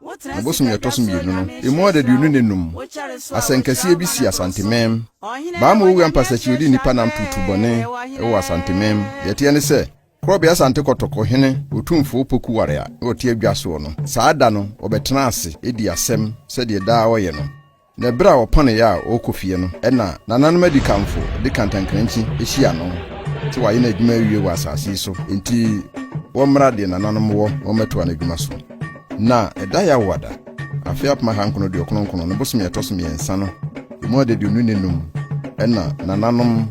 Wo bosome a ɛtɔ so mmienu no, emu adaduonu ne nnum, asɛnkɛseɛ bi sii Asantemem. Baama Owura Mpasakyi ɔdi nnipa nam tuutuu bɔne wɔ Asantemem. Deɛ ɛteɛ ne sɛ, Korɔbea Asante Kɔtɔk Ɔhene Otumfoɔ Opoku Ware a na ɔte adwa soɔ no, saa da no ɔbɛtena ase dii asɛm sɛdeɛ daa ɔyɛ no. Na bere a ɔpɔn yɛ a ɔrekɔ fie no, ɛnna nananom adikanfo de kantankrankyi hyia no, sɛ wayɛ n'adwuma awie wɔ asase yi so, enti wɔmmra deɛ nananom wɔ na wɔmmɛtoa n'adwuma so. Na ɛda Yawada, afe apem ahankron aduokron nkron, no bosome a ɛtɔ so mmiɛnsa no, emu adaduonu ne nnum, ɛnna nananom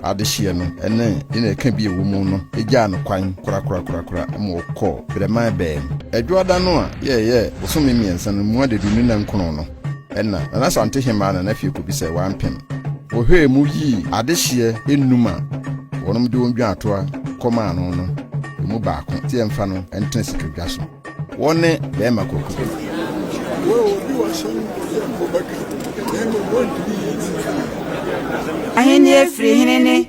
adehyeɛ no ne deɛ na ɛka bi a ɛwɔ mu no gyaa no kwan korakorakorakora ma ɔkɔɔ Berɛman Baa mu. Dwoada no a yɛyɛɛ bosome mmiɛnsa no mu adaduonu ne nkron no, Ɛnna Nana Asante Hemmaa Nana Afiekobi sɛ wampem. Wɔhwɛɛ mu yii adehyeɛ nnum a wɔnom de wɔn dwaatoa kɔmaa no no mu baako sɛ yɛmfa no ntena sikadwa so. Wɔne Bɛɛma Kwaku. Ahenni afiri hene ne.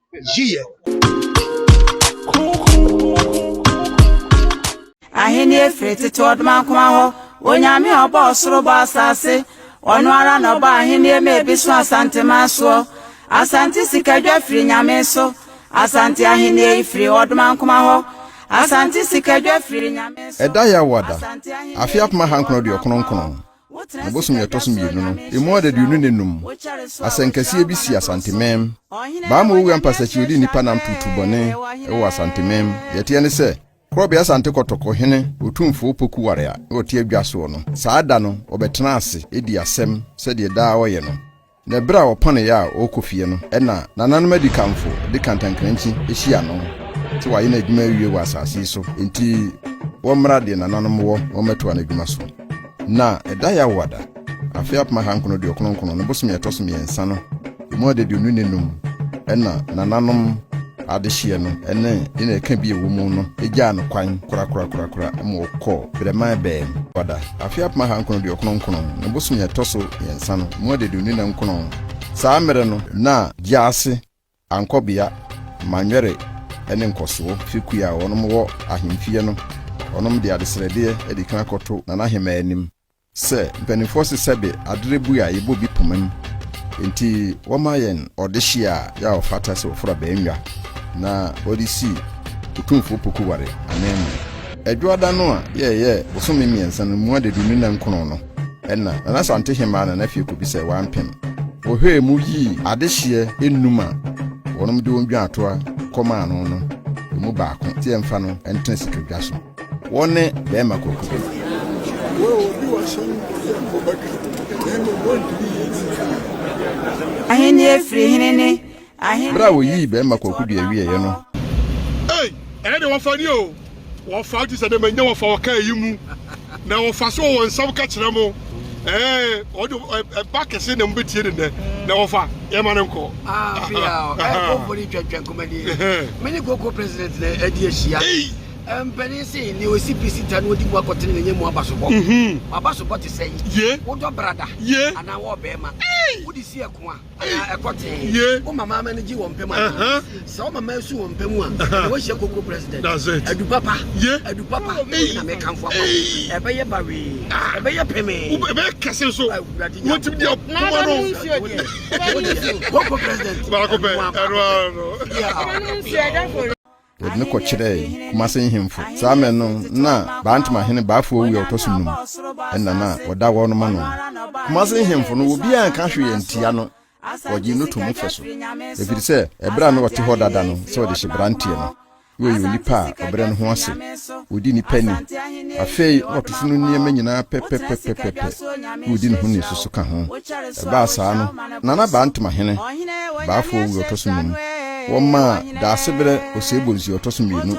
yiye. Ahenni firi tete ɔdomankoma hɔ. Onyame a ɔbɔɔ soro bɔɔ asase. Ɔno ara na ɔbɔɔ ahenni ma ebi so Asanteman soɔ. Asante sikadwa firi Nyame so. Asante ahenni yi firi ɔdomankoma hɔ. Asante sikadwa firi Nyame so. Ɛda Yawada, afe apem ahankron aduokron nkron, Wo bosome a ɛtɔ so mmienu no, emu adaduonu ne nnum, asɛnkɛseɛ bi sii Asantemem. Baama Owura Mpasakyi ɔdi nnipa nam tuutuu bɔne wɔ Asantemem. Deɛ ɛteɛ ne sɛ, Korɔbea Asante Kɔtɔk Ɔhene Otumfoɔ Opoku Ware a ɔte adwa soɔ no, saa da no ɔbɛtena ase di asɛm sɛdeɛ daa ɔyɛ no. Na bere a ɔpɔn yɛ a ɔrekɔ fie no, ɛnna nananom adikanfo de kantankrankyi hyia no, sɛ wayɛ n'adwuma awie wɔ asase yi so, enti wɔmmra deɛ nananom wɔ na wɔmmɛtoa n'adwuma so. Na ɛda Yawada, afe apem ahankron aduokron nkron, no bosome a ɛtɔ so mmiɛnsa no, emu adaduonu ne num, ɛnna nananom. Adehyeɛ no ne deɛ ɛka bi a ɛwɔ mu no gyaa no kwan korakorakorakora ma ɔkɔɔ Brɛman Bɛɛm. Wada. Afe apem aha nkron aduokron nkron no bosome a ɛtɔ so mmiɛnsa no mu adeduoni na nkron saa mmerɛ no na Gyaase, Ankɔbea, Manwɛre ne Nkɔsoɔ fi kua a wɔnom wɔ ahemfie no wɔnom de adesrɛdeɛ de kan akɔto Nana Hemaa anim Sɛ mpaninfoɔ se sɛbe adere bue a yɛbɔ bi pomam nti wɔma yɛn ɔdehye a yɛ a ɔfata sɛ wɔforo abɛɛnwa na wɔde si Otumfoɔ Opoku Ware ananmu. Adwoada no a yɛ ɛyɛ bosome mmiɛnsa no mu adaduonu nna nkron no na Nana Santehemaa Nana Fie Kobi sɛ wɔampem wɔ hwɛɛ mu yii adehyeɛ nnum a wɔnom de wɔn dwaatoa kɔmaa no no ɛmu baako nti ɛmfa no ntena sikadwa so. Wɔne bɛrima kɔkɔ. Ahenni afiri hene ne ahenni. Bere a wɔyii bɛrima kɔkɔ dua wieeɛ no. Ei, ɛyɛ deɛ wɔfa ni o, wɔfa gye sɛ deɛ manya wɔfa wɔka eyi mu, na wɔfa so wɔ wɔn nsam ka kyerɛ mo, ee, wɔde ɛba kɛse na mobɛtie no nnɛ, na wɔfa, yɛmma no nkɔ. Afei a, ɛɛ, kɔkɔ no retwentwɛn kɔm anie, me ne kɔkɔ president no adi ahyia. Mpanin se, Nea ɔsi pi si ta na ɔdi mu akɔtene no nyɛ mu abasobɔ. W'abasobɔ te sɛn? Wodɔ brada anaa wo ɔbarima? Wode si ɛko a, anaa ɛkɔ tee? Wo mama ama no gye wɔn pɛ mu anaa? Sɛ wo mama su wɔn pɛ mu a, ɛnneɛ woahyia Kokoro President. Adu papa, adu papa, me wei na mekamfo ama wo. Ɛbɛyɛ bawee, ɛbɛyɛ pemee. Ɛbɛyɛ kɛse nso. Awurade Nyankopɔn. Na aba no nsuo deɛ? Kokoro President. Baako pɛ, ɛno ara no. wɔde no kɔkyerɛɛ Kumase nhemfo. Saa mmere no na Baantema hene Baafoɔ wu a ɔtɔ so num. Ɛnna na wɔda wɔn no ma no. Kumase nhemfo no obiara anka hwee antia no, wɔgyee no toom fɛ so. Ɛfiri sɛ ɛberɛ a na ɔte hɔ dada no sɛ ɔdehye branteɛ no, na ɔyɛ onipa a ɔbrɛ ne ho ase. Ɔdi nnipa ni. Afei na ɔtofo no nneɛma nyinaa pɛpɛpɛpɛpɛ, na ɔdi ne ho ni nso so ka ho. Ɛbaa saa no, na na baa ntoma hene, baafoɔ owura ɔtɔ so nnum. Wɔmaa Daasebrɛ Osei-Bonsu a ɔtɔ so mmienu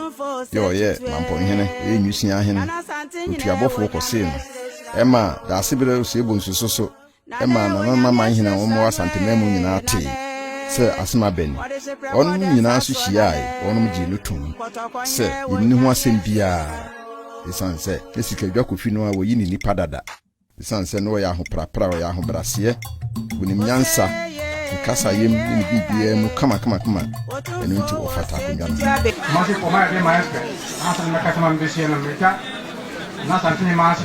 deɛ ɔyɛ Mampɔn hene, ɔyɛ Nwisiaa hene, otuabɔfoɔ kɔsee no. Ɛmaa Daasebrɛ Osei-Bonsu nso so ɛmaa Nananana Manhene a wɔwɔ Asanteman mu nyinaa tee sɛ asɛm abɛn ni. Wɔnom nyinaa nso hyiaae, wɔnom gyee no toom sɛ yenni ho asɛm biara esiane sɛ na sikadwa kofi no a wɔyi ne nnipa dada esiane sɛ na ɔyɛ ahoprapra, ɔyɛ ahobraseɛ, wonim nyansa, ne kasayam ne ne biribiara mu kamakamakama, ɛno nti ɔfata akonnwa no ho. Kumase kɔmaa ɛde maa Esperɛ, ansa na mɛka sɛm a mebɛseɛ no, mɛtwa Nna Asantehema ase.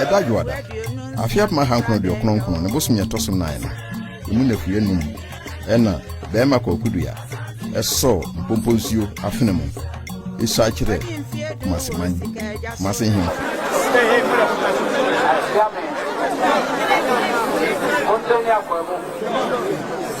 ɛda dwoada afe apem ahankron aduokron nkron ne bosom yɛ ɛtɔ so nan no ɛmu nafuiɛ num ɛna bɛrima kɔkudua ɛsɔɔ mpompo nsuo afene mu ɛsu akyerɛ kumase man kumase hemfo Thank you.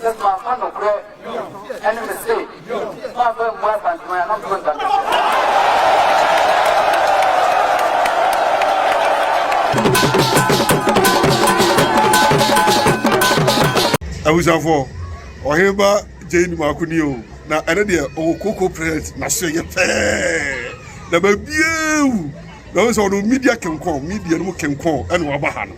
Sɛ mamfa nokorɛ ne me se mamfa ammua Asantehene a, na mfeɛ ɔnda me so. Abusuafoɔ, ɔhene ba gyei no mako ni o, na ɛne deɛ ɔwɔ koko prɛt n'aso yɛ pɛɛ na baabiaa wu na ɔhu sɛ ɔno media kenkɔn media no mu kenkɔn ɛna waba ha no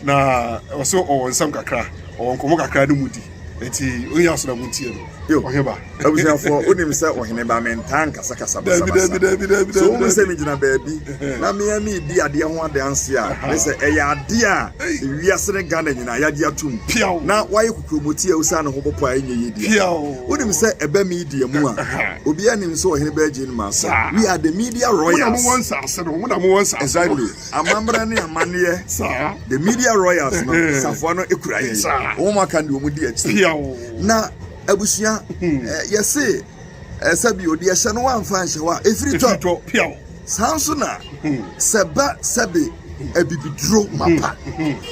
Na ɔsɛ ɔwɔ nsɛm kakra, ɔwɔ nkɔmmɔ kakra ne mu di. Enti ɔnyɛ aso na montie no. Yo, Ɔheneba. abusuafoɔ, wonim sɛ Ɔheneba mentaa nkasakasa Daabi, daabi, basabasa. daabi, daabi, So daabi, wohu sɛ daabi. megyina baabi na me ara meredi adeɛ ho adanseɛ a, ne sɛ ɛyɛ adeɛ a ewiase ne Ghana nyinaa yɛagye atom Piaw. na woayɛ kokuromoti a osiane ho bɔpɔ a ɛnyɛ yie deɛ. Piaw. Wonim sɛ ɛba media mu a, Aha. obiara nim sɛ Ɔheneba Eugene Marson, Saa. we are the media Mo na mowɔ royals. nsaase no, mo na mowɔ nsaase no. Exactly. Amammerɛ ne amanneɛ. Saa. The Media Royals no, safoa no kura yɛn. Saa. Wɔn aka deɛ wɔn di akyi. Piaw. Na abusua, hmm. eh, yɛse eh, sɛbi odi ɛhyɛ no wamfa nhyɛ wa efiri tɔ. Efiri tɔ piaw. Saa nso na hmm. sɛ ba sɛbi hmm. abibiduro mapa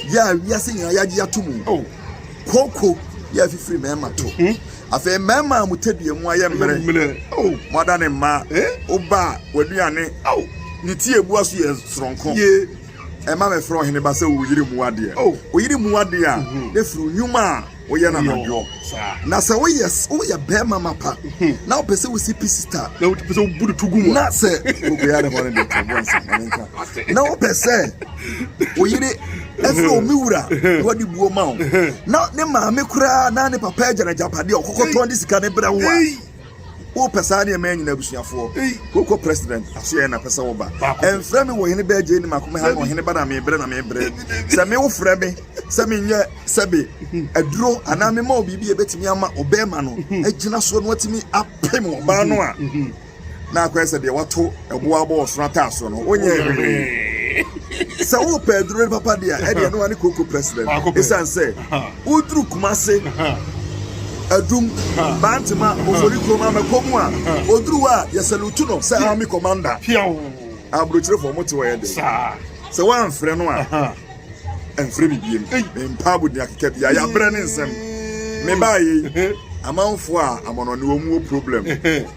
yɛ a wiase nyinaa yɛagye ato mu. Oh. Kooko yɛ afifiri mɛɛma to. afei mmarima a mo tadua mu ayɛ mmerɛ mo adane mmaa wo ba a w'aduane ne ti ebu aso yɛ soronko ɛma mɛfrɛ ɔhene ba sɛ wo yere mu adeɛ wo yere mu adeɛ a mhm. na firi nnwuma a woyɛ no anadwoɔ na sɛ woyɛ woyɛ bɛrima ma pa mhm. na wopɛ sɛ wosi pi sista na wopɛ sɛ wobu no to gu mu na sɛ wobɛyɛ ne hɔ no de to boɔ nsɛ na wopɛ sɛ wo yere ɛfrɛ wo me wura na wɔde buo ma wo na ne maame koraa na ne papa agya n'agyapade a ɔkɔkɔtɔn de sika ne brɛ wo a wopɛ saa nneɛma yɛ nyina abusuafoɔ wokɔ president aseɛ na pɛ sɛ woba ɛmfrɛ me wɔ hene bɛɛ gye ne mako me ha na ɔhene ba na mebrɛ na mebrɛ sɛ me wofrɛ me sɛ menyɛ sɛbe aduro anaa mema wo biribi a ɛbɛtumi ama ɔbɛɛma no agyina soɔ no atumi apem ɔbaa no a na akɔyɛ sɛ deɛ wato ɛboɔ abɔ ɔsono ataaso no wonyɛ hwee sɛ wopɛ aduro no papa deɛ ɛdeɛ no wane koko president ɛsiane sɛ woduru kuma se adum bantema ofori kurom amɛkɔ mu a oduru a yɛsɛlutu no sɛ army commander aburokyerefo ɔmo te wɔ yɛ de sɛ woamfrɛ no a ɛmfrɛ bibiem mpa abodua keka bia yɛabrɛ ne nsɛm mebaayɛ amanfoɔ a amanɔne wɔ mu wɔ problem